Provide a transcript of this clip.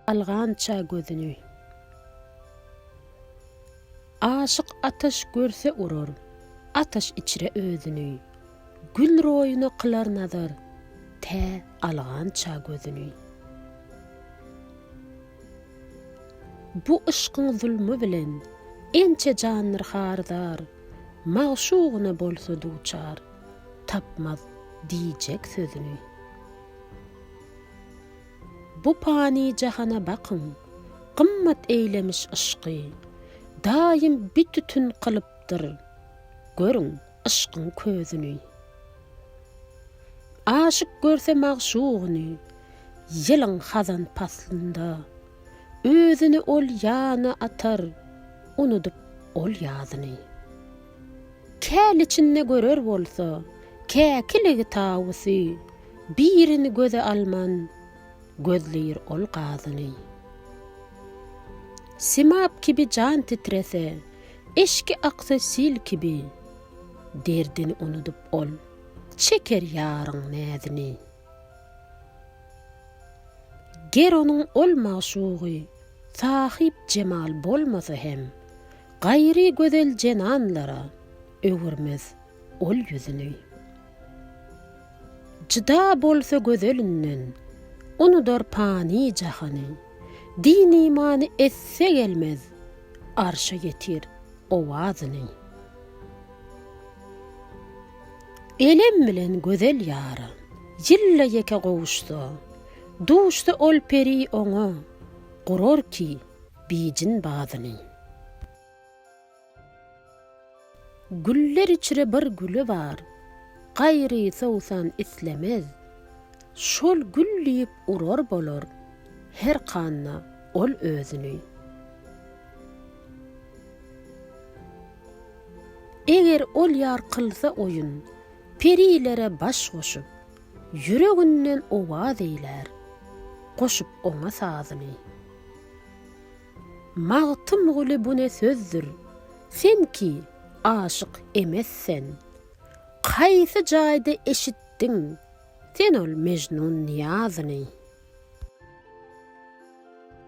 Algança gözüni. Aşyk ataş görse urar. Ataş içre özüni. Gül roýuna kylar nazar. Tä algança gözüni. Bu yşkyň zulmy bilen. Ençe jandyr harzar. Magşugyna bolsa duçar. Tapmaz diýjek sözüni. Bu pany jahana bakyň, gymmat eýlemiş yşky, Daýym bit-ütin kylypdyr, görüň, yşkyň közüni. Aşyk görse magşugyny, ýylyň hazan paslynda, Özüni ol ýana atar, unudyp ol ýazyny. Käl içinde görer bolsa, käkiligi tawusy, birini göze alman, gözleýir ol gazyny. Simap kibi jan titrese, eşki aksa sil kibi, derdini unudyp ol, çeker ýaryň näzini. Ger onuň ol magşugy sahyp jemal bolmasa hem, gaýry gözel zenanlara öwürmez ol ýüzüni. Jyda bolsa gözelinden, unudar pany jahany, din-imany esse gelmez, arşa ýetir owazyny. Elem bilen gözel ýara. Ýylda ýeke gowuşsa. Duşsa ol peri oňa. Gurar ki, bijin badyny. Güller içre bir güli bar. Gaýry sowsan islemez. Şol gül diýip urar bolar. Her handa ol özüni. Eger ol ýar kylsa oýun. Perilere baş goşup. Ýüreginden owaz eýlär. Goşup oňa sazyny. Magtymguly bu ne sözdür. Sen ki, aşyk emes sen. Haýsy jaýda eşitdiň. Sen ol Mejnun Nyýazyny.